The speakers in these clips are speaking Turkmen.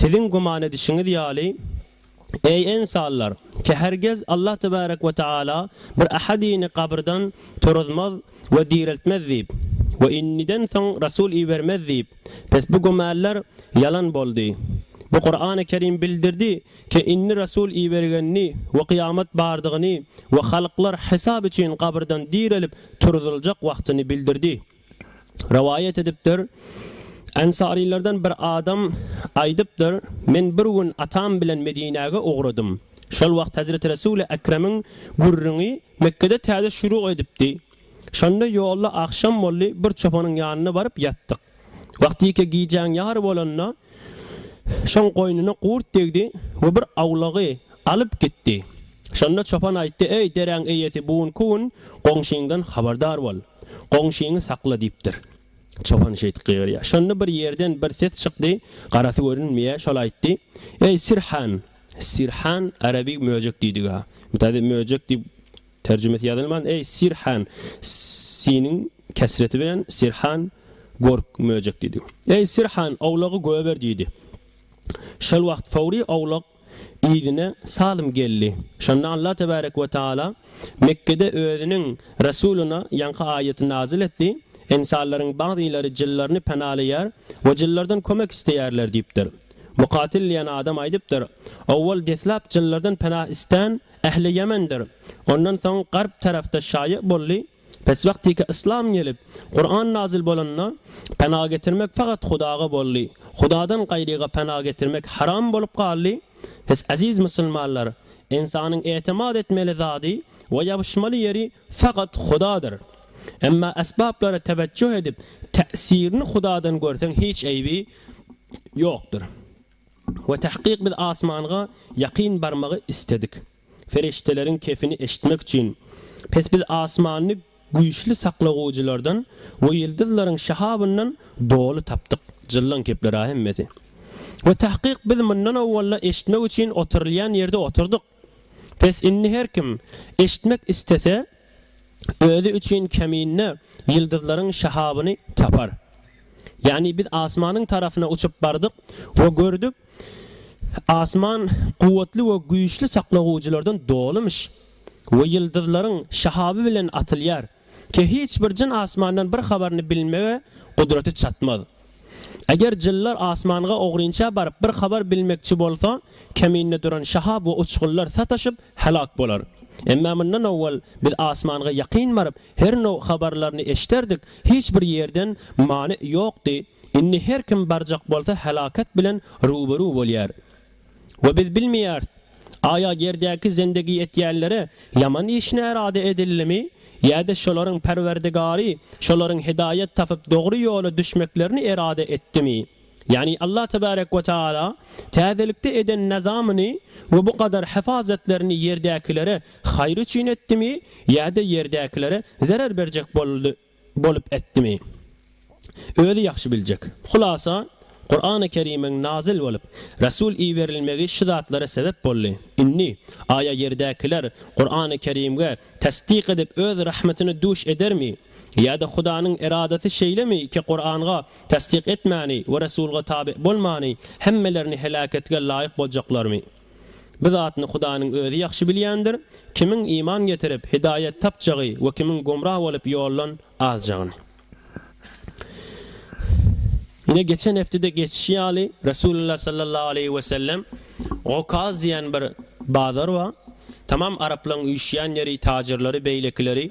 Siziň güman edişiňiz ýaly, eý, ynsanlar, ki hergiz Allah tebärek we taala bir ähedyny gabyrdan turuzmaz we direltmez diýip, we indiden soň resul ibermez diýip, pes bu gümäller ýalan boldy. Bu Kurany Kerim bildirdi, ki indi resul ibergenini we kyýamat bardygyny we halklar hesap üçin gabyrdan direlip turuzyljak wagtyny bildirdi. Rowaýat edipdir, Ensarylardan bir adam aýdypdyr, Men bir gün atam bilen Medinäge ugradym. Şol wagt Hezreti Resuly Ekremiň gürrüňi Mekgede täze şuru edipdi. Şonda ýolda agşam boldy, bir çopanyň ýanyna baryp ýatdyk. Wagtyke gijäň ýary bolanda, şoň goýnuna gurt degdi we bir awlagy Alyp gitdi. Şonda çopan aýtdy, Eý, deräň eýesi, bu günki gün goňşyňdan habardar bol. Goňşyňy sakla diýipdir. Çopan şeýdip gygyrýar. Şonda bir ýerden bir ses çykdy, garasy görünmeýär, şol aýtdy, Eý, sirhan! Sirhan, arabi möjek diýdigi-ha. Bu täze möjek diýip terjimesi ýazylman, Eý, sirhan! Siniň kesreti bilen sirhan, gork, möjek diýdigi. Eý, sirhan, owlagy goýber diýdi. Şol wagt Sowry owlak Yzyna Salym geldi. Şonda Allah tebärek we taala Mekgede Özüniň Resulyna ýaňky aýaty nazyl etdi, Ensarlaryň bagzylary jynlaryny penalaýar we jynlardan kömek isleýärler diýipdir. Mukatil diýen adam aýdypdyr, Owwal deslap jynlardan pena islän ähli Ýemendir. Ondan soň garp tarapda şaýa boldy. Pes wagtyka yslam gelip, Kuran nazil bolanda, pena getirmek fakat Hudaga boldy. Hudadan gaýryga pena getirmek haram bolup galdy. Siz eziz musulmanlar, ynsanyň etemad etmeli zady we ýabyşmaly ýeri fakat Hudadyr. Emma esbaplara tewejjuh edip, täsirini Hudadan görseň hiç eýbi ýokdyr. We tahkyk biz asmanga ýakyn barmagy isledik. Perişdeleriň kefini eşitmek üçin, pes biz asmany güýçli saklagujylardan we ýyldyzlaryň şahabyndan doly tapdyk. Jyllaň kepler-a hemmesi. We tahkyk biz mundan owwal-da eşitmek üçin oturylýan ýerde oturdyk. Pes indi her kim, eşitmek istese, Özi üçin kämine ýyldyzlaryň şahabyny tapar. Ýagny biz asmanyň tarapyna uçup bardyk we gördük, asman kuwwatly we güýçli saklagujylardan dolymyş we ýyldyzlaryň şahaby bilen atylýar. Ke hiç bir jyn asmandan bir habaryny bilmege gudraty çatmaz. Eger jynlar asmanga ogrynça baryp bir habar bilmekçi bolsa, keminde duran şahab we uçgunlar sataşyp, helak bolar. Emma mundan owal biz asmanga ýakyn baryp, her now habarlaryny eşderdik, hiç bir ýerden many ýokdy, indi her kim barjak bolsa helaket bilen ruberu bolýar. We biz bilmeýäris, aýa ýerdäki zendegi etýänlere ýaman iş närada edildimi, ýa-da şolaryň Perwerdigary şolaryň hidaýat tapyp dogry ýola düşmeklerini erada etdimi. Ýagny Allah tebarek we taala täzelikde eden nazamyny we bu gadar hyfazatlaryny ýerdäkilere haýyr üçin etdimi, ýa-da ýerdäkilere zerer berjek boldy. bolup etdimi? Özi ýagşy biljek. Hulasa, Kurany Kerimiň nazyl bolup, Resul iberilmegi şu zatlara sebep boldy. Indi, aýa ýerdäkiler Kurany Kerimge tassyk edip öz rahmetine duş edermi? Ýa-da Hudanyň eradasy şeýlemi ki Kuranga tassyk etmäni we Resulga tabi bolmany hemmelerini helaketige laýyk boljaklarmy? Bu zatny Hudanyň Özi ýagşy bilýändir, kimiň iman getirip, hidaýat tapjagy we kimiň gümra bolup ýoldan azjagyny. Ine, geçen hepdede geçişi ýaly, Resulullah sallallahu aleýhi we sellem, Okaz diýen bir bazar bar. Tamam araplaryň üýşýän ýeri, tajirleri, beýlekileri.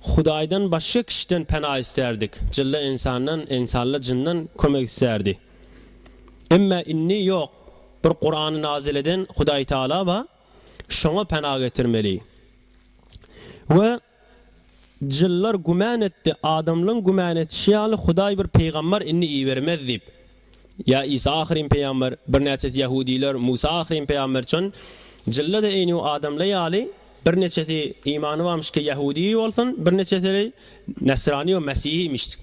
Hudaýdan başga kişiden pena isterdik. Jylla ynsandan, ynsalla jyndan kömek isterdi. Emma indi ýok. Bir Kurany nazil eden Hudaý Taala ba, şoňa pena getirmeli. We jyllar güman etdi, adamlaň güman etişi ýaly Hudaý bir pygambar indi ibermez diýip. Ýa Isa ahyryn pygamber, birnäçesi ýahudylar, Musa ahyryn pygamber çyn, jylla-da eýni adamla ýaly, birneçesi imany barmyşki ýahudy bolsun, birneçesili nesrani we mesihi imiş.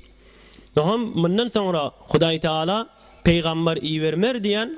Nohum mundan soňra Hudaý Taala pygamber ibermer diýen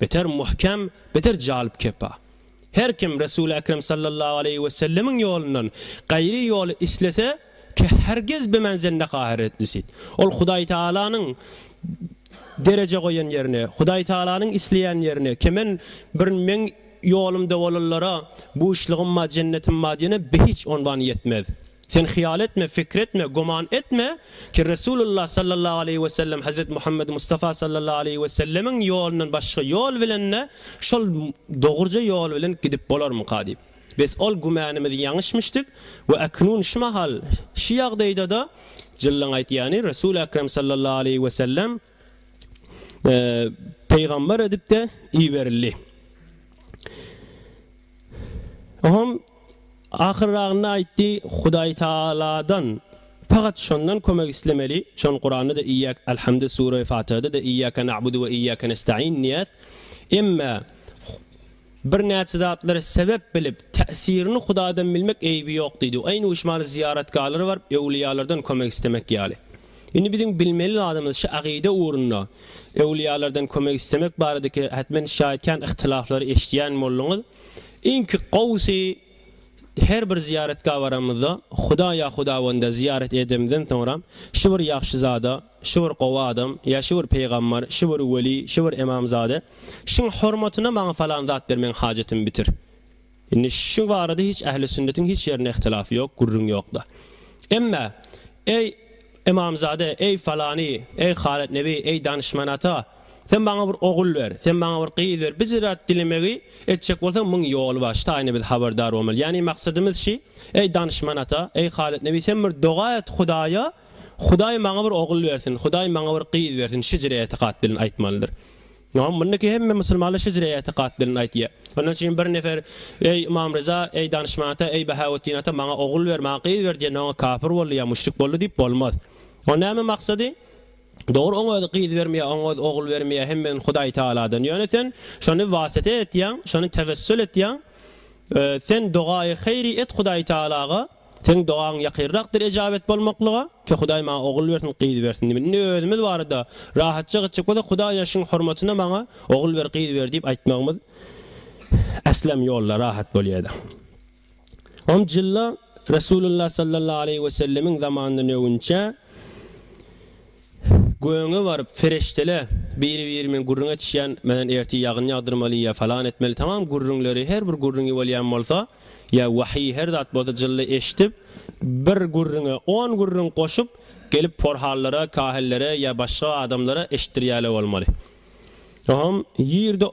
Beter muhkem, beter jalyp kepa. Her kim Resuly Ekrem sallallahu aleýhi we sellemiň ýolundan gaýry ýoly islese, ke hergiz bimenzende haheretlisit. Ol Hudaý Taalanyň dereje goýan ýerine, Hudaý Taalanyň isleýän ýerine, ke men bir meň ýolumda bolanlara buşlygymma, jennetimma diýene behiç onwan ýetmez. Sen hyýal etme, pikir etme, güman etme ki, Resulullah sallallahu aleýhi we sellem Hezreti Muhammed Mustafa sallallahu aleýhi we sellemiň ýolundan başga ýol bilen-de şol dogruja ýol bilen gidip bolarmyka diýip. Bes ol gümanymyz ýaňyşmyşdyk we äknun şu mahal, şu ýagdaýda-da jyllyň aýtýany Resul Ekrem sallallahu aleýhi we sellem, Pygamber edip-de iberildi. Oňam ahyrragynda aýtdy, Hudaý Tagaladan pagat Şondan kömek islemeli, Şon Kuranda-da Iyyak Alhamdy Sure-i Fatyha-da-da Iyyake na'budu ve iyyake nestaîn diýýär. Emme, Birnäçe zatlary sebäp bilip, täsirini Hudaýdan bilmek eýbi ýok diýdi. Aýn uşmaly zyýaratgalara baryp, öwlüýalardan kömek islemek ýaly. Indi biziň bilmeli zadymyz şu agyda ugrunda öwlüýalardan kömek islemek baradaky hätmen şaýat kän yhtilaflary eşidýän bolduňyz. Iňki gowusy, Her bir zyýaratgaha baramyzda, Huda ýa hudawenda zyýarat edemizden soňra, şu bir ýagşy zada, şu bir gowy adam, ýa şu bir pygambar, şu bir weli, şu bir emamzade, şuň hormatyna maňa falan zat ber meň hajatymy bitir. Indi şu barada hiç ähli sünnetiň hiç ýerinde ihtilaf ýok, gürrüň ýokda. Emma, eý, Ymamzada, Eý, falany, eý, Halyt nebi, eý, danyşman ata, sen maňa bir ogul ber, sen maňa bir gyz ber, bir zat dilemegi etjek bolsaň, müň ýoly bar, şitaýyna biz habardar bolmaly. Ýagny maksadymyz şi, eý, danyşman ata, eý, Halyt nebi, sen bir doga et Hudaýa, Hudaý maňa bir ogul bersin, Hudaý maňa bir gyz bersin, şi jüre etikat bilen aýtmalydyr. Ýa mundaky hemme musulmanlar şejre etikat bilen aýtýar. Ondan çyn bir nefer Eý, Ymam Ryza, eý, Danyşman ata, eý, Bahawetdin ata, maňa ogul ber, maňa gyz ber diýende oňa kapyr boldy ýa müşrik boldy diýip bolmaz. Oň näme maksady? Dogry oň özi gyz bermeýär, oň özi ogul bermeýär, hemmeden Hudaý Tagaladan. Ýöne sen şony wasyta etýäň, şony tewessül etýäň. Sen dogaýy haýry et Hudaý Tagalaga. Seň dogaň ýakyrrakdyr ejabet bolmaklyga, ki Hudaý maňa ogul bersin, gyz bersin diýmedi. Indi özümiz barada rahatja gitjek bolsak, Hudaý ýaşyň hormatyna maňa ogul ber, gyz ber diýip aýtmagymyz äslam ýolda rahat bolýady. On jylda Resulullah sallallahu aleýhi we sellemiň zamanyndan öwünçä, Gögöňe baryp, Fereştele! Biri-birimiň gürrüň etişýän, Menen ertir ýagyn ýagdyrmaly ýa falan etmeli tamam gürrüňleri, her bir gürrüňi bolýan bolsa, ýa wahyý her zat bolsa jylla eşidip, bir gürrüňe on gürrüň goşup, gelip porhallara, kahillere ýa başga adamlara eşitdirýäle bolmaly. Ohomm, ýerde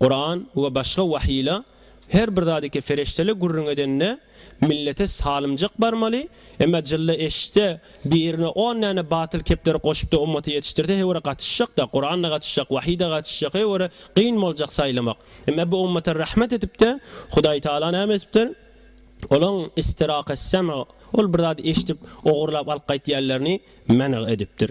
Kuran we başga wahyla her bir zady ki feriştele gürrüň edende millete salymjak barmaly, emma jylla eşitse birine on däne batyl kepleri goşupda ummaty ýetişdirse heýwere gatyşjakda, Kuranda gatyşjak, wahyda gatyşjak heýwere gyn boljak saýlamak. Emma bu ummata rahmet edipde Hudaý Taala näme edipdir? Olaň istiraq es-sem'a, ol bir zady eşidip ogurlap alyp gaýtýanlaryny men'a edipdir.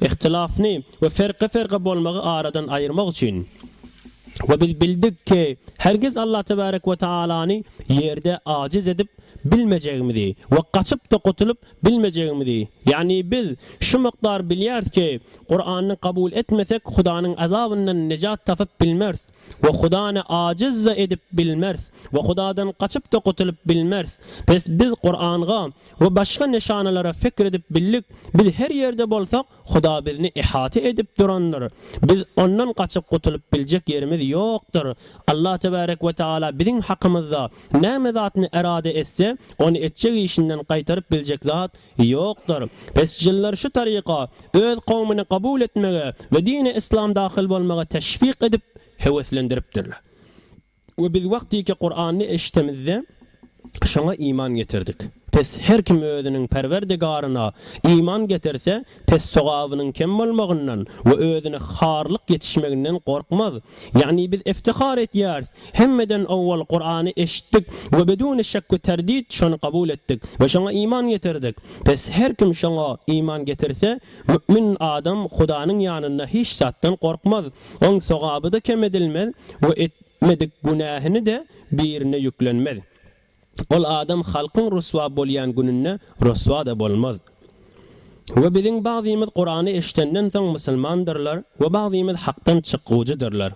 Ihtilafny we ferqe-ferqe bolmagy aradan aýyrmak üçin. We biz bildik ki, hergiz Allah tebarek we taalany ýerde ajiz edip bilmejegimizi we gaçyp-da gutulyp bilmejegimizi, ýagny biz şu mukdar bilýäris ki, Kurany kabul etmesek Hudanyň azabyndan nejat tapyp bilmeris. We Hudany ajiz-de edip bilmeris we Hudadan gaçyp-da gutulyp bilmeris. Bes biz Kuranga we başga nyşanalara pikir edip bildik, biz her ýerde bolsak, Huda bizni ihata edip durandyr. Biz Ondan gaçyp gutulyp biljek ýerimiz ýokdur. Allah tebärek we taala biziň hakymyzda näme zatny erada etse, ony etjek işinden gaýtaryp biljek zat Ýokdur. Pes jynlar şu taryka öz kowmyny kabul etmege we dini yslam dahyl bolmaga teşwik edip, höweslendiripdirler. We biz wagtyky Kurany eşitemizde, şoňa iman getirdik. Pes her kim özüniň Perwerdigaryna iman getirse, pes sogabynyň kem bolmagyndan we özüne harlyk ýetişmeginden gorkmaz. Ýagny biz iftihar etýäris, Hemmeden owwal Kurany eşitdik we beduni şek we terdid şony kabul etdik we şoňa iman getirdik. Pes her kim şoňa iman getirse, mü'min adam Hudanyň ýanynda hiç zatdan gorkmaz, oň sogaby-da kem edilmez we etmedik günähini-de birine ýüklenmez. Ol adam halkyň ryswa bolýan gününde ryswa-da bolmaz. We biziň bagzymyz Kurany eşidenden soň musulmandyrlar we bagzymyz hakdan çykgujydyrlar.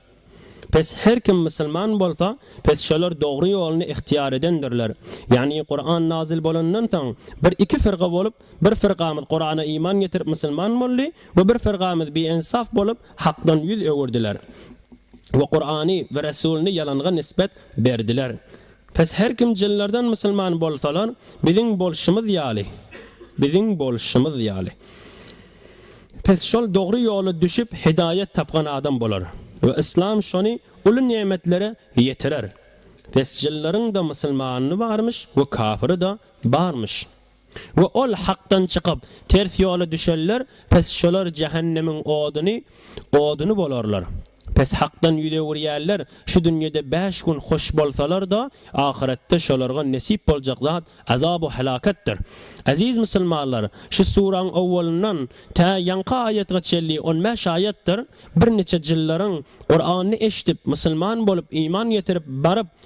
Pes her kim musulman bolsa, pes şolar dogry ýoluny ihtiýar edendirler. Ýagny Kuran nazyl bolandan soň bir iki firga bolup, bir firgamyz Kurana iman getirip musulman boldy we bir firgamyz biensaf bolup hakdan ýüz öwürdiler we Kurany we Resulyny ýalanga nisbet berdiler. Pes her kim jynlardan musulman bolsalar biziň bolşumyz ýaly biziň bolşumyz ýaly pes şol dogry ýola düşüp hidaýat tapgan adam bolar we yslam şony uly nemetlere ýetirer pes jynlaryň da musulmany barmyş we kafyry da barmyş. We ol Hakdan çykyp, ters ýola düşenler, pes şolar jähennemiň oduny, oduny bolarlar. Pes Hakdan ýüz öwürýänler, şu dünýede bäş gün hoş bolsalar-da, ahyretde şolarga nesip boljak zat azabu helaketdir. Eziz musulmanlar, şu suraň owwalyndan tä ýaňky aýatga çenli on bäş aýatdyr, birniçe jyllaryň Kurany eşidip, musulman bolup, iman getirip, baryp,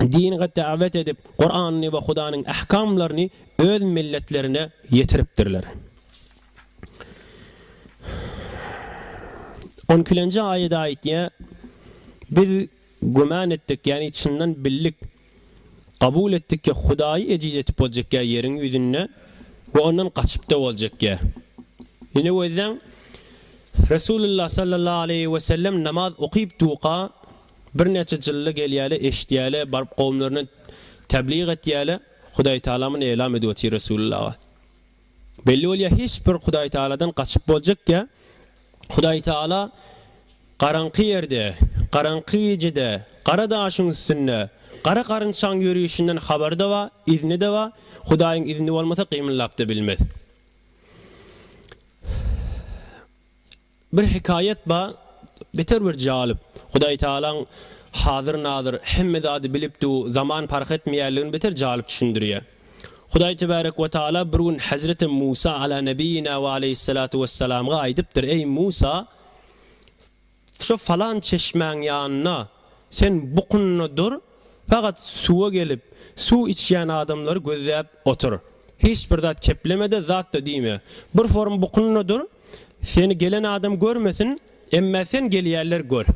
dine dawet edip, Kuranyny we Hudanyň ahkamlaryny öz milletlerine ýetiripdirler. On ikilenji aýat aýtýar, Biz güman etdik, ýagny çyndan bildik, kabul etdik ki, Hudaýy ejiz etip boljakýa ýeriň ýüzünde we ondan gaçypda boljakýa. Ine gözleň, Resulullah sallallahu aleýhi wesellem namaz okyp duka Birnäçe jylla gelýäle, eşidýäle, baryp kowumlaryna teblig etýäle, Hudaýtagamyny eýlam edip otyr Resulyllaga. Belli bolýar hiç bir Hudaýtagaladan gaçyp boljak ýa Hudaýtagala garaňky ýerde, garaňky gijede, gara daşyň üstünde, gara garynçaň ýörişinden habary-da bar, izni-de bar, Hudaýyň izni bolmasa gymyldap-da bilmez. Bir hekaýat bar, beter bir jalyp. Hudaý Tagalaň Hazyr-Nazyr, hemme zady bilipdu, zaman parh etmeýärligini beter jalyp düşündirýär. Hudaý Tebärek we Tagala bir gün Hezreti Musa Alâ Nebiyyinâ ve Aleyhissalâtu Vesselamga aýdypdyr, Eý, Musa! Şo falan çeşmäň ýanynda sen bukunna dur, Fakat suwa gelip, suw içýän adamlary gözläp otur. Hiç bir zat kepleme-de, zat-da diýme. Bir forum bukunda dur, seni gelen adam görmesin, emma sen gelýänler gör.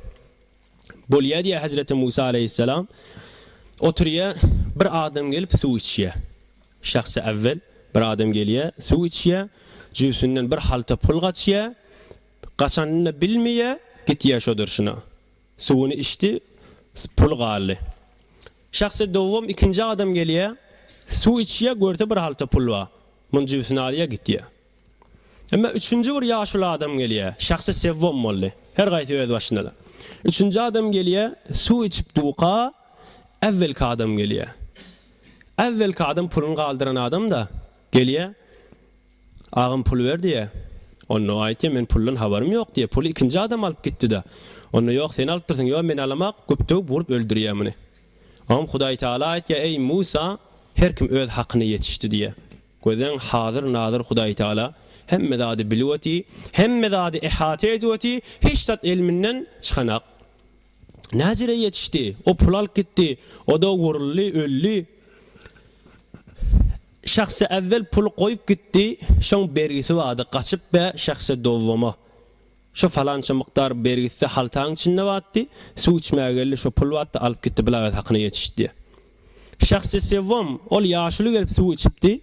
Bolýa diýýär hezreti Musa aleýhisselam. Oturýar, bir adam gelip suw içýär. Şahsy ewwel bir adam gelýär, suw içýär, jübüsinden bir halta pul gaçýar, gaçanyny-da bilmeýär, gitýär şo durşuna. Suwuny içdi, puly galdy. Şahsy dowam ikinji adam gelýär, suw içýär, görse bir halta pul bar. Muny jübüsine alýar, gitýär. Emma üçünji bir ýaşuly adam gelýär. Şahsy sewwam boldy. Her gaýsy öz başyna-da. Üçünji adam gelýär, suw içip duka, äwwelki adam gelýär. Äwwelki adam puluny galdyran adam-da, gelýär. Agam pul ber diýýä. Onda aýtýa men puldan habarym ýok diýýä. Puly ikinji adam alyp gitdida. Onda ýok sen alypdyrsyň ýok men alamok güp döwüp urup öldürýä muny. Oňam Hudaý Taala aýtýa eý Musa her kim öz hakyny ýetişdi diýýä. Gözleň hazyr nazyr Hudaý Taala hemme zady bilip oty hemme zady ehata edip oty hiç zat elminden çykanak. Näjere ýetişdi o pul alyp gitdi oda uruldy öldi. Şahsy äwwel puly goýup gitdi, şoň bergisi bady gaçyp bä şahsy dowwama. Şo falança mukdar bergisi-de haltaň içinde batdy, suw içmäge geldi şo pul batdy alyp gitdi blagat hakyna ýetişdi diýä. Şahsy sewwam ol ýaşuly gelip suw içipdi,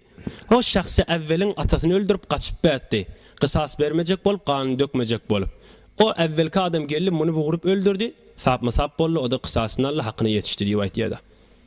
o şahsy äwweliň atasyny öldürip gaçyp bätdi, gysas bermejek bolup ganyny dökmejek bolup. O äwwelki adam geldi muny bugrup öldürdi, sapma sap boldy, o-da gysasyny aldy hakyna ýetişdi diýip aýtýada.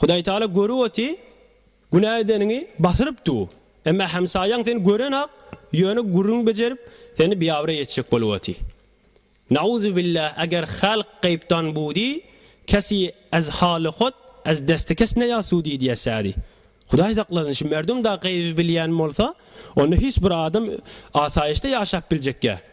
Hudaý Taala görüp oty, günä edeniňi basyryp du, emma hemsaýaň seni görenok, ýöne gürrüň bejerip, seni biabraý etjek bolup oty. Nauzubillah eger halk gaýypdan budi, kesi ez haly hot, ez desti kes ne ýasudi diýä sädi. Hudaý saklasyn şu merdum da gaýyby bilýän bolsa, onda hiç bir adam asaýyşda ýaşap biljekýä.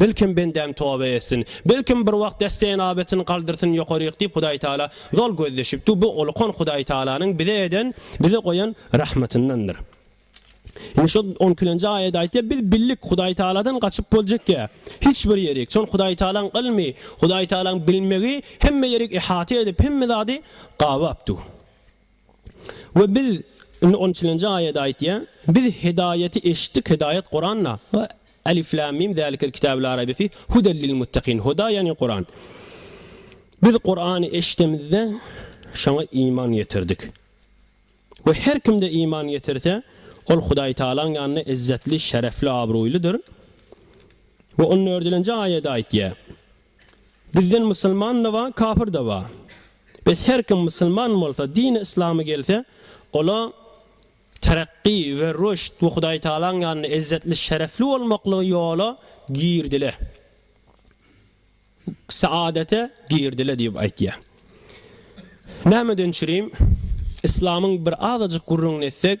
Belkem bendäm toba etsin. Belkem bir wagt destenabetini galdyrsyn ýokaryk diýip Hudaý Taala zol gözleşipdi. Bu ulukan Hudaý Taalanyň bize eden, bize goýan rahmatyndandyr. Indi şo on ikilenji aýat aýtýar, biz bildik Hudaý Taaladan gaçyp boljak ýer, hiç bir ýerik. Çon Hudaý Taalaň ylmy, Hudaý Taalaň bilmegi hemme ýerik ihata edip, hemme zady gabapdy. We Biz, indi on üçünji aýat aýtýar, Biz hidaýaty eşitdik, hidaýat Kuranda, we, Alif Lam Mim, Zalikel Kitabu Laa Raybe Fih, Huden Lil Muttakin, Huda ýagny Kuran. Biz Kurany eşidemizde, şoňa iman getirdik. We her kimde iman getirse, ol Hudaý Tagalaň ýanynda izzetli, şerefli, abraýlydyr. We on dördülenji aýat aýtýar, Bizden musulman-da bar, kapyr-da bar. Bes her kim musulman bolsa, dini yslamy gelse, ola terakki we rüşt we Hudaýtagalaň ýanynda ezzetli, şerefli bolmaklygy ýola girdile, saadete girdile diýip aýtýar. Nämeden çürim? Yslamyň bir azajyk gürrüňini etsek,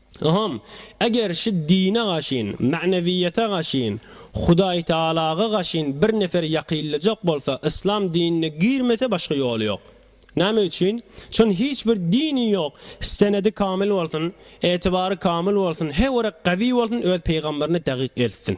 Yham, eger şu dine gaşyn, magnewiýete gaşyn, Hudaýtagalaga gaşyn bir nefer ýakyllyjak bolsa, yslam dinine girmese başga ýoly ýok. Näme üçin? Çün hiç bir dini ýok, senedi kamyl bolsun, etibary kamyl bolsun, hewere gawi bolsun öz peýgamberini dagyk eltsin.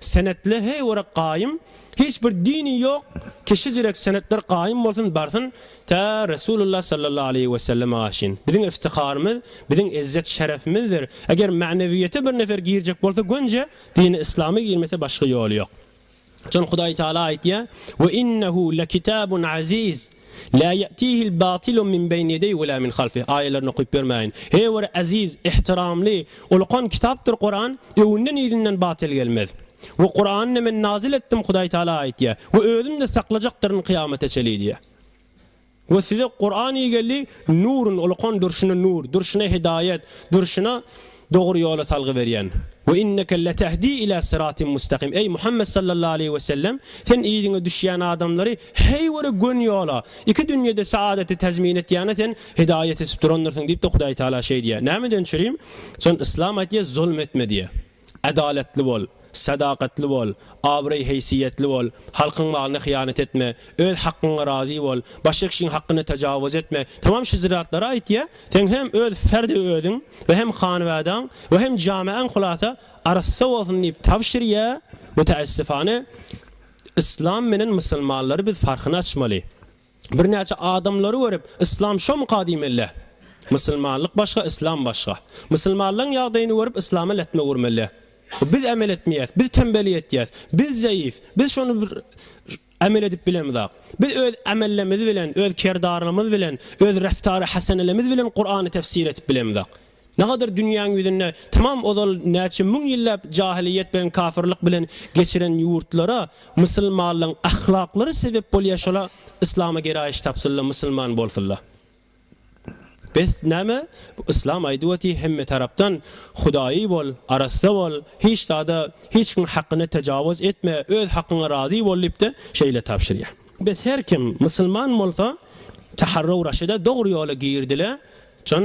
Senetler heý orak gaýym hiç bir dini ýok ki şijirek senetler gaýym bolsun barsyn tä Resulullah sallallahu aleýhi we sellem aşyn biziň iftiharymyz biziň ezzet şerefimizdir eger ma'newiýete bir nefer girjek bolsa gönje dini islama girmese başga ýoly ýok şon hudaý taala aýtýa we innehu lekitabun aziz Lâ ýe'tîhil bâtilu min beýni ýedeyhi we lâ min halfihi aýalaryny okyp bermäýin. Her bir eziz, ihtiramly, ulkan kitapdyr Kuran, öňünden-yzyndan batyl gelmez. We Kurany Men nazil etdim, Hudaý Tagala aýtýar, we Özüm-de saklajakdyryn kyýamata çenli diýýär. We size Kuran ygeldi, Nurun, ulkan, durşuna nur, durşuna hidaýat, durşuna, Dogry ýola salgy berýän. Ve inneke letehdi ila siratim mustakim. Eý Muhammet sallallahu aleýhi ve sellem, sen yzyňa düşýän adamlary heý bir gön ýola, iki dünýede saadaty tezmin etýäne sen hidaýat etip durandyrsyň diýip-de Hudaý Taala şeý diýýär. Nämeden çürim? Jon Yslam aýtýar, zulm etme diýýär. Adalatly bol. Sadakatly bol, abraý-heýsiýetli bol, halkyň malyna hyýanat etme, öz hakgyňa razy bol, başga kişiň hakgyna tajawuz etme, tamam şu zratlary aýtýa, seň hem öz ferdi özüň we hem hanbadaň we hem jameaň hulasa arassa bolsun diýip tabşyrýa, mutaessifane Yslam menen musulmanlary biz parhyny açmaly. Birnäçe adamlary görüp, Yslam şomyka diýmeli. Musulmanlyk başga, Yslam başga. Musulmanlaň ýagdaýyny görüp, Yslama lätme gurmeli. Biz emel etmeýäs, biz tembellik etýäs, biz zeýif, biz şony bir emel edip bilemizak. Biz öz amellemz bilen, öz kerdarlymyz bilen, öz reftary hasenelemiz bilen Kurany tefsir edip bilemizak. Nagadyr dünýäň ýüzünde tamam ozal näçe müň ýylläp jahylyýet bilen kafyrlyk bilen geçiren ýurtlara musylmanlyň ahlaklary sebep bolýa şola yslama geraýyş tapsynla musylman bolsynla bes näme yslam aýdyp oty hemme tarapdan hudaýy bol arassa bol hiç zada hiç kim hakyna tajawuz etme öz hakyňa razy bol diýipde şeýle tabşyrýa bes her kim musylman bolsa taharrau raşyda dogry ýola girdile can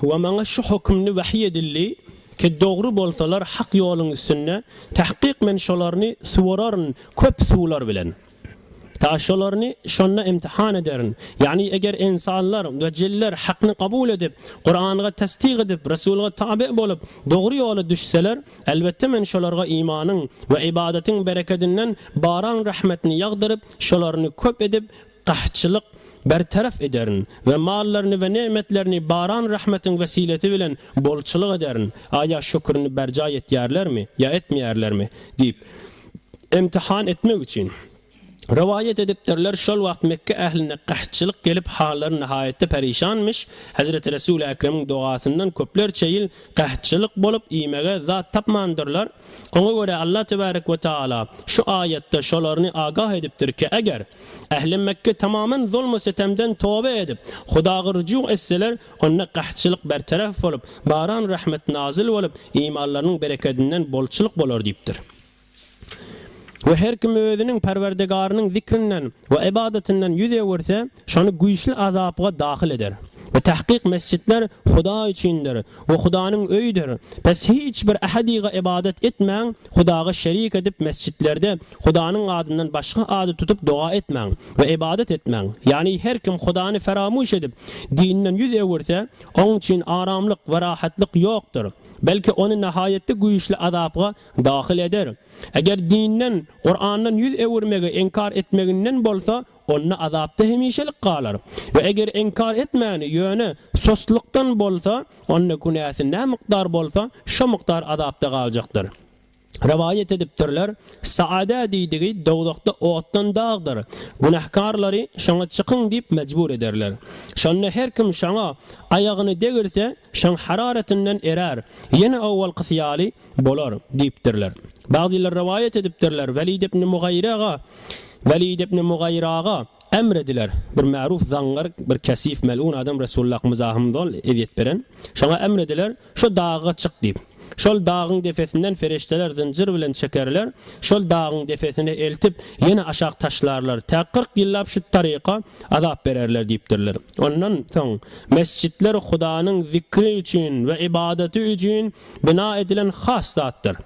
We maňa şu hökümli wahyý edildi, Ki, dogry bolsalar hak ýoluň üstünde, tahkyk men şolaryny suwararyn köp suwlar bilen. Ta şolaryny şonda imtihan ederin. Ýagny, eger ynsanlar we jinler hakny kabul edip, Kuranyga tassyk edip, Resulga tabe bolup, dogry ýola düşseler, elbetde men şolarga imanyň we ybadatyň berekedinden baran rahmetini ýagdyryp, şolaryny köp edip Gahatçylyk bertaraf ederin we mallaryny we ne'metlerini baran rahmetiň wesilesi bilen bolçulyk ederin, aýa şükrini berjaý etýärlermi ýa etmeýärlermi? diýip, imtihan etmek üçin. Rowaýat edipdirler, şol wagt Mekge ähline gahatçylyk gelip, hallary nahaýatda perişanmyş, Hezreti Resul-i Ekremiň dogasyndan köplerçe ýyl gahatçylyk bolup, iýmege zat tapmandyrlar, Oňa görä Allah tebarek we taala şu aýatda şolaryny agah edipdir ki eger Ähli Mekge tamamen zulmu setemden toba edip Hudaga rujuk etseler onda gahtçylyk bertaraf bolup baran rahmet nazyl bolup imanlarynyň berekedinden bolçulyk bolar diýipdir. We her kim özüniň Perwerdegarynyň zikrinden we ybadatyndan ýüz öwürse, şony güýçli azapga dahyl eder. We tahkyk mesjitler Hudaý üçindir we Hudanyň öýüdir, pes hiç bir ähadiga ybadat etmäň, Hudaga şerik edip mesjitlerde Hudanyň adyndan başga ady tutup doga etmäň we ybadat etmäň, ýagny her kim Hudany feramyş edip, dinden ýüz öwürse, oň üçin aramlyk we rahatlyk ýokdur, belki ony nahaýatda güýçli azapga Dahyl eder. Eger dinden, Kurandan ýüz öwürmegi inkar etmeginden bolsa, onda azapda hemişelik galar. We eger inkar etmäni, ýöne sostlykdan bolsa, onda günäsi nä mukdar bolsa, şo mukdar azapda galjakdyr. Rowaýat edipdirler, Saada diýdigi dowzahda otdan dagdyr. Günähkarlary şoňa çykyň diýip mejbur ederler. Şonda her kim şoňa aýagyny degrse, şoň hararatynden erär. Ýene owalkysy ýaly, Bolar, diýipdirler. Bagzylar rowaýat edipdirler, Welid ibn Mugaýyr aga, Welid ibn Mugaýyr aga, emr ediler, bir märuf zaňňar, bir kesif, melun adam Resulullah akymyza hem zol ezýet beren. Şoňa emr ediler, Şo daga çyk diýip. Şol dagyň depesinden ferişdeler zynjyr bilen çekerler, şol dagyň depesine eltip, ýene aşak taşlarlar, tä kyrk ýyllap şu taryka azap bererler diýipdirler. Ondan soň mesjitler Hudanyň zikri üçin we ybadaty üçin bina edilen has zatdyr.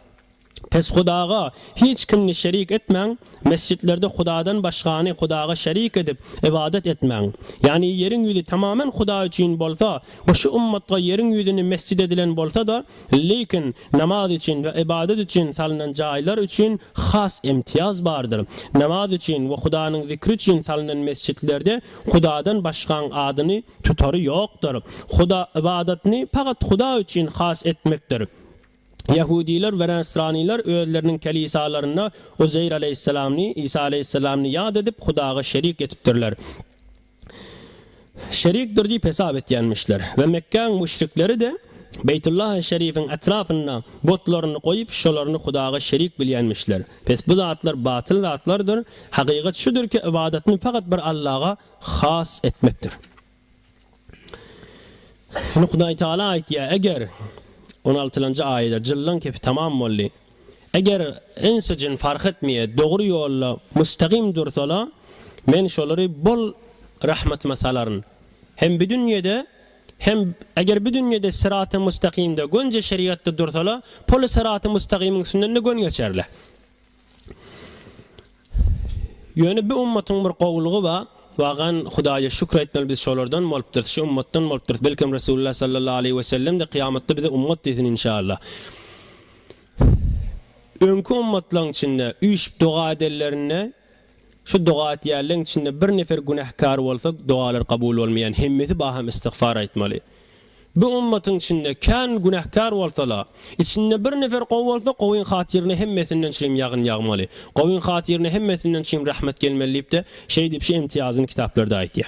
Pes Hudaga hiç kimni şerik etmäň, mesjidlerde Hudadan başgany Hudaga şerik edip, ybadat etmäň. Ýagny ýeriň ýüzi tamamen Hudaý üçin bolsa we şu ummatga ýeriň ýüzüni mesjit edilen bolsa-da, lekin namaz üçin we ybadat üçin salnan jaýlar üçin has imtiýaz bardyr. Namaz üçin we Hudanyň zikri üçin salnan mesjidlerde Hudadan başgaň adyny tutary ýokdur. Huda ybadatyny pagat Huda üçin has etmekdir. Ýahudylar we näsranylar özleriniň kelisalarynda Uzeýr aleýhissalamny, Isa aleýhissalamny ýat edip, Hudaga şerik etipdirler. Şerikdir diýip hesap etýänmişler. We Mekgäň müşrikleri-de Beýtullahy şerifiň etrapynda butlaryny goýup, şolaryny Hudaga şerik bilýänmişler. Pes bu zatlar batyl zatlardyr. Hakykat şudur ki, ybadatny fakat bir Allaha has etmekdir. Ine Hudaý Taala aýtýar, eger, on altylanjy aýada, jyllaň kepi tamam boldy, eger ins-u jyn fark etmeýe dogry ýolda mustakym dursalar, Men şolary bol rahmatyma salaryn hem bu dünýede, Hem, eger bu dünýede syraty mustakymda, gönje şerigatda dursalar, poly syraty mustakymyň üstünden-de gön geçerler. Ýöne bu ummatyň bir gowulygy bar, wagan, Hudaýa şükür etmeli biz şolardan bolupdyrys, şu ummatdan bolupdyrys, belkem Resulullah sallallahu aleýhi we sellem-de kyýamatda bize ummat diýsin inşallah. Öňki ummatlaryň içinde üýşüp doga edenlerinde Şu doga etýänleň içinde bir nefer günähkär bolsa dogalar kabul bolmaýan hemmesi baham istigfar aýtmaly. Bu ummatyň içinde kän günähkär bolsala, içinde bir nefer gowy bolsa gowyň hatyryna hemmesinden çirim ýagyn ýagmaly, gowyň hatyryna hemmesinden çirim rahmet gelmeli diýipde şeý diýip şu imtiýazyny kitaplarda aýtýa.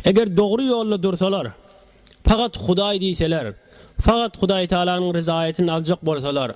Eger dogry ýolda dursalar, pagat Hudaý diýseler, fagat Hudaýtalanyň ryzaýatyny aljak bolsalar,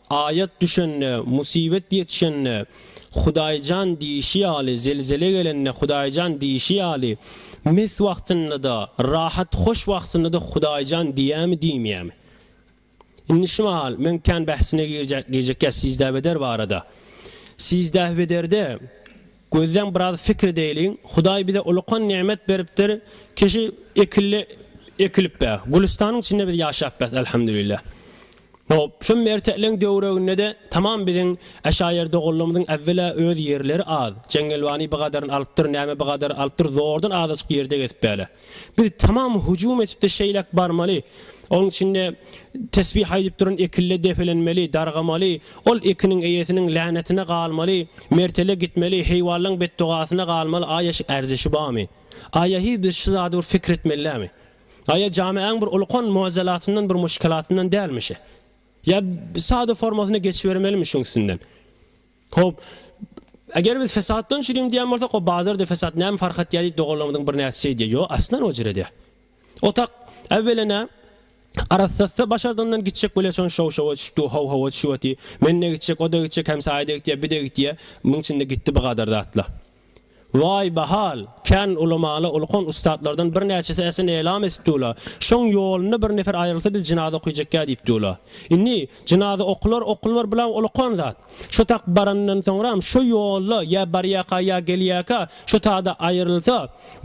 Aýat düşende, musibet ýetişende, Hudaýjan diýişi ýaly, zelzele gelende, Hudaýjan diýişi ýaly, mes wagtynda-da, rahat, hoş wagtynda-da Hudaýjan diýämi, diýmeýämi? Indi şu mahal men kän bähsine girjek, girjek ýa sizdäbeder barada. Sizdähbederde Gözleň biraz fikr edeýliň, Hudaý bize ulukan nemet beripdir, kişi ekilli ekilip be, gülüstanyň içinde biz ýaşap bes Elhamdülillah. Hop, şu merteleň döwreginde-de tamam biziň Äşaýer doganlarymyzyň äwwela öz ýerleri az, Jeňňelwany bigadary alypdyr, näme bigadary alypdyr, zordan azajyk ýerde gezip bele. Biz tamam hüjüm edip-de şeýläk barmaly. Onuň içinde tesbih aýdyp duran ekille depelenmeli, dargamaly, ol ekiniň eýesiniň länetine galmaly, mertele gitmeli, heýwanlaň betdogasyna galmaly, aýa şu erzeşi barmy? Aýa hi biz şu zady bir pikir etmelidämi? Aýa jameäň bir ulkan muazelatyndan bir muşkelatyndan dälmi şe? Ýa sada formasyna geçibermelimi şuň üstünden? Hop, eger biz fesatdan çürüýün diýen bolsak, o bazar de fesat näme fark atýar diýip doganlarymyzyň birnäçesi şeýdýär. Ýo, aslan o jire de. Otak, äwwelena, arassatsa başardygyndan gitjek bolýar, şony şow-şowa düşüp dur, how-howa düşüp otyr. Men-de gitjek, o-da gitjek, hemsaýa-da gitýär, bi-de gitýär. Muň içinde gitdi bi gadar zatlar. Waý, bahal! Kän ulamaly ulkan ussatlardan birnäçesi äsin elam etip dula, şoň ýolunda bir nefer aýrylsa biz jynaza okyjekgä diýip dula. Indi, jynaza okular, okulmar bulaň ulukan zat. Şo tak baranyndan soňram, şo ýolda ýa barýaka ýa gelýäka şo tada aýrylsa,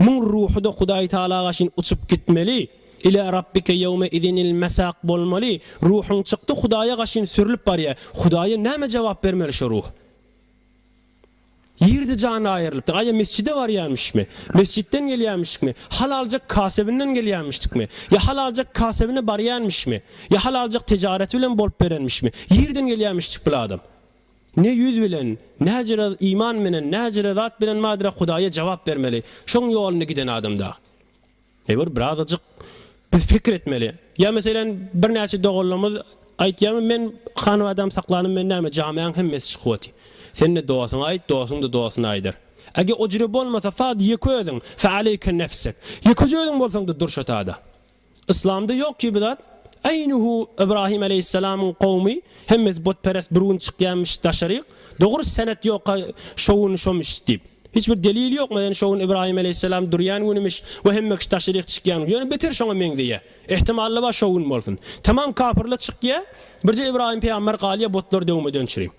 muň ruhuda Hudaý Tagalaga şin uçup gitmeli, Ilâ Rabbike ýewme izinil mesâk bolmaly, ruhuň çykdy Hudaýa gaşyn sürlüp barýa, Hudaýa näme jogap bermeli şo ruh? Ýerde jany aýrylypdyr. Aýa mesjide barýarmyşmy? Mesjitden gelýärmişikmi? Hal aljak kasebinden gelýärmişdikmi? Ýa hal aljak kasebine barýarmyşmy? Ýa hal aljak tejareti bilen bolup berenmişmi? Ýerden gelýärmişdik bil adam. Ne ýüz bilen, näjere iman menen, näjere zat bilen madre Hudaýa jogap bermeli. Şoň ýolunda giden adam dagy. Eger birazajyk biz pikir etmeli. Ýa meselem birnäçe doganlarymyz aýtýamy men hanabadam saklanym men näme jamaýaň hemmesi çykyboty. Sen-de dosuňa aýt dosuň-da dosuna aýdar. Ege ojire bolmasa sad ýeke özüň fe aleyke nefsek. Ýekeje özüň bolsaňda durşa sada. Yslamda ýok kibi zat. Eýnuhu Ybrahym aleýhissalamyň kowmy hemmesi botperest bir gün çykýamiş daşaryk. Dogry senet ýoka şo gün şomiş diýip. Hiç bir delil ýok maden şo gün Ibrahim Aleýhisselam durýan günümiş we hemme kişi taşrih çykýan gün. Ýöne beter şoňa meňzeýä. Ehtimalla bar şo gün bolsun. Tamam kapyrlar çykýa birje Ibrahim pygamber galýa botlar döwmeden çüri.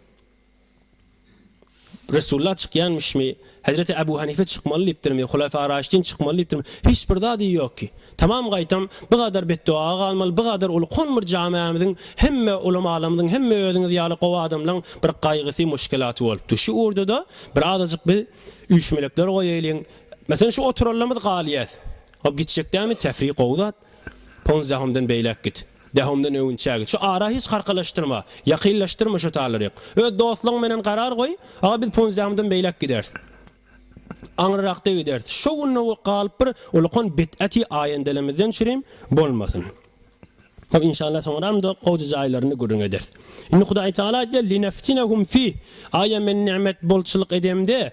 Resulla çykýanmyşmy? Hezreti Ebu Hanife çykmaly diýipdirmi, Hulefa Raşidin çykmaly diýipdirmi, hiç bir zady ýok ki. Tamam gaýtam, bu gadar betdoga galmaly, bu gadar uly kon bir jamämiziň hemme ulamalarymyzyň, hemme özüňiz ýaly gowy adamlaň bir gaýgysy, muşkelaty bolupdy. Şu urdada bir azajyk biz üýşmelekler goýaýlyň. Meselem şu oturanlarymyz galýas. Hop gitjek dämi, tefri gowy zat. Ponzýahymdan beýläk git. Dahomdan öwünçäge, Çü ara hiç harkalaşdyrma, ýakynlaşdyrma şo talary. Öz dostlaryň menen garar goý, aga biz Punzdahomdan beýläk gideris. Aňryrakda gideris. Şo günde galyp bir ulukan bid'aty aýendelemizden çürim bolmasyn. Hop inşallah soňramda gowja jaýlaryny gürrüň ederis. Indi Hudaý Tagala aýdýar, Lineftinehum fih, Aýa men nimet bolçulyk edemde,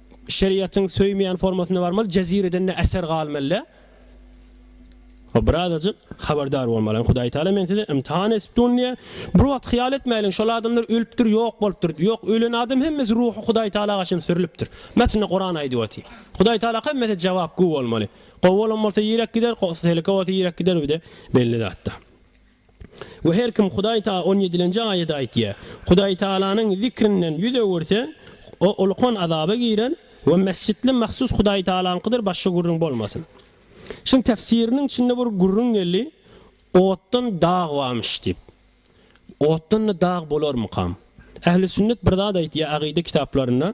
Şeriatyň söýmeýän formasyna barmaly, jezireden ne äser galmaly. Ho birazajyk habardar bolmaly. Hudaý Taala men sizi ymtihan etipdun diýe. Bir wagt hyýal etmäliň şol adamlar ölüpdir ýok bolupdyr. Ýok ölen adam hemmesi ruhy Hudaý Taala gaşyn sürlüpdir. Metinde Kuran aýdyp oty. Hudaý Taala hemmese jawap gu bolmaly. Gowy bolan bolsa ýirek gider, go seleke bolsa ýirek gider bide belli zatda. We her kim Hudaý ta on ýedilenji aýady aýtýa, Hudaýtagalanyň zikrinden ýüz öwürse, o ulkan azaba girer, we mesjitli mahsus Hudaýtagalaňkydyr başga gürrüň bolmasyn. Şuň tefsiriniň içinde bir gürrüň geldi, Otdan dag barmyş diýip. Otdan-da dag bolarmykam? Ähli sünnet bir zat aýtýa agyda kitaplarynda.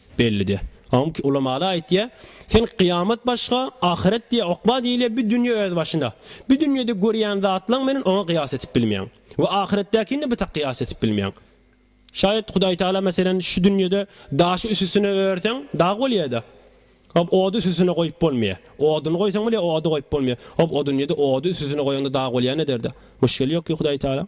Bellidi. Awmk ulamaly aýtýa, Sen kyýamat başga, ahyret diýe okba diýilýä, bi dünýe öz başyna. Bi dünýede görýän zatlaň menen oňa kyýas etip bilmeýäň. We ahyretdäkini-de bi tak kyýas etip bilmeýäň. Şaýat Hudaý Tagala meselen şu dünýede daşy üsüstüne örseň dag bolýada. Hop ody üsüstüne goýup bolmaýa. Oduny goýsaň bile ody goýup bolmaýa. Hop o dünýede ody üsüstüne goýaňda dag bolýan ederde. Muşkeli ýok ki Hudaý Tagalaň.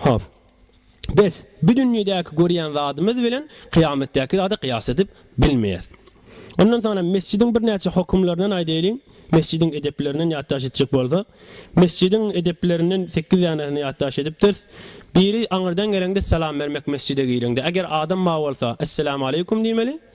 Hop. Biz bu dünýedäki görýän zadymyz bilen kyýametdäki zady kyýas edip bilmeýäs. Ondan soňra mesjidiň birnäçe hokumlaryndan aýdaýlyň, mesjidiň edeplerinden ýatdaş etjek bolsak, mesjidiň edeplerinden sekiz danesini ýatdaş edipdiris. Biri aňyrdan geleňde salam bermek mesjide gireňde. Eger adam bar bolsa, Esselamu aleýkum diýmeli.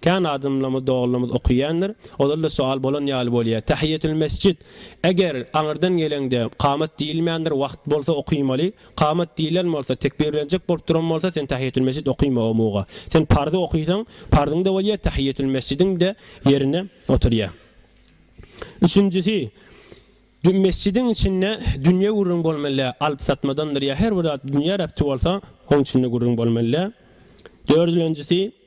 Kän adamlarymyz, doganlarymyz okyýandyr. Ozal-da soal bolan ýaly bolýar. Tähiýetül-mesjit, eger aňyrdan geleňde kamat diýilmändir, wagt bolsa okymaly. Kamat diýlen bolsa, tekbirlenjek bolup duran bolsa, sen tähiýetül-mesjit okyma o muga. Sen parzy okysaň, parzyň-da bolýar, tähiýetül-mesjidiň-de ýerine oturýar. Üçünjisi, mesjidiň içinde dünýe gürrüň bolmaly däl. Alyp-satmadandyr ýa her bir zat dünýä rebti bolsa, onuň içinde gürrüň bolmaly däl. Dördülenjisi.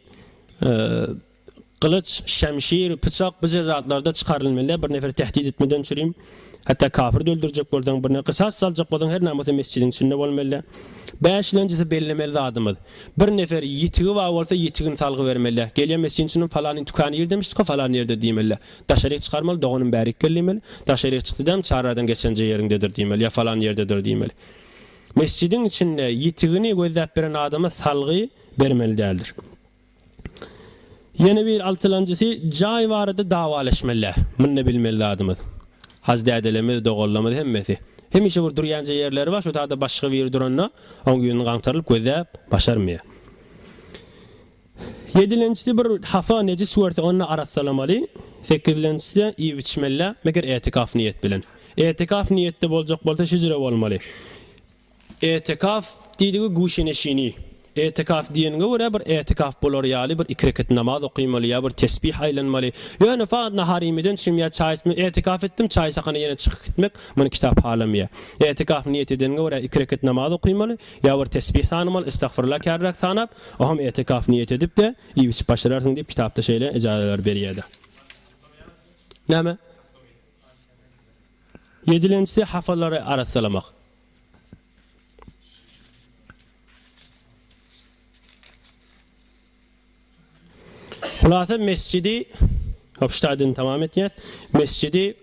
Gylyç, şemşir, pyçak bu jezatlary-da çykarylmeli-ä, bir neferi tehdit etmeden çürim. Hatda kafiri-de öldürjek bolsaň, birine gysas saljak bolsaň, her namys-a mesjidiň içinde bolmaly-ä. Bäşilenjisi bellemeli zadymyz. Bir nefer ýitigi bar bolsa, ýitigini salgy bermeli-ä. Gelýän mesjidiň içinden falany dükan ýer demişdik-ä, falany ýerde diýmeli-ä. Daşaryk çykarmaly, doganym bärik gel diýmeli. Daşaryk çykdy däm, çarradan geçenje ýeriňdedir diýmeli, ýa falany ýerdedir diýmeli. Mesjidiň içinde ýitigini gözläp beren adama salgy bermeli däldir. Ýene bir altylanjysy jaý barada dawaleşmelä. Munda bilmeli zadymyz. Hazdädelerimiz, doganlarymyz hemmesi. Hemişe bir durýanja ýerleri bar, şo taýda başga biri duranda, oň ýüzüni gaňtarylyp gözläp başarmaýar. Ýedilenjisi bir hasa nejis görse, onda arassalamaly. Sekizlenjisi-de iýip-içmelä, meger etikaf niýet bilen. Etikaf niýetde boljak bolsa hijre bolmaly. Etikaf diýdigi guşeneşini. Etikaf diýeniňe görä bir etikaf bolar ýaly bir iki rekat namaz okymaly ýa bir tesbih aýlanmaly. Ýöne fagt nahar iýmeden çüm ýa çaý içmeden etikaf etdim çaý sakana ýene çykyp gitmek muny kitap halameýär. Etikaf niýet edeniňe görä iki rekat namaz okymaly ýa bir tesbih sanymaly istagfirullah kärräk sanap oham etikaf niýet edipde iýip içip başararsyň diýip kitapda şeýle ejazeler berýärde. Näme? Ýedilenjisi, hapalary arassalamak. Hulasa mesjidi, obştaýdyny tamam etýäs, mesjidi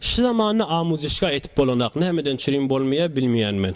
şu zamanda amuzyşga etip bolanak, nämeden çürin bolmaýar, bilmeýän men.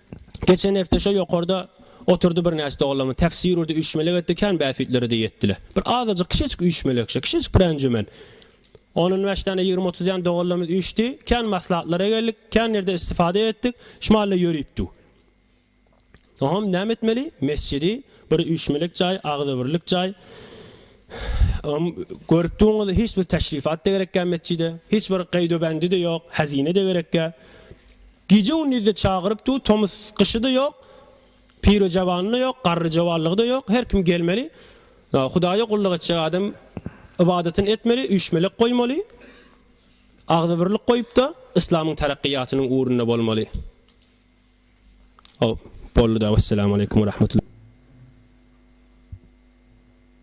Geçen hepde şo ýokarda oturdy birnäçe doganlarymyz. Tefsir urdy, üýşmelek etdi, kän bäsüýtlere-de ýetdiler. Bir azajyk, kiçejik üýşmelekçe, kiçejik bir enjümen. On on bäş däne, ýigrimi otuz däne doganlarymyz üýşdi. Kän maslahatlara geldik, kän ýerde istifada etdik. Şu mahal-da ýörüpdik. Oňam näme etmeli? Mesjidi, bir üýşmelek jaý, agzybirlik jaý. Oňam görüpdigiňiz, hiç bir teşrifat-da gerekgä metjide, hiç bir gaýdubendi-de ýok, hezine-de gerekgä. Gije-gündiz-de çagyryp dur, tomus-gyşy-da ýok, pirojawany-da ýok, garryjawanlygy-da ýok, her kim gelmeli. Hudaýa gulluk etjek adam ybadatyny etmeli, üýşmelek goýmaly, agzybirlik goýup-da, yslamyň terakkyýatynyň ugrunda bolmaly. Haw, boldy-da, wessalam aleýkum we rahmetullah.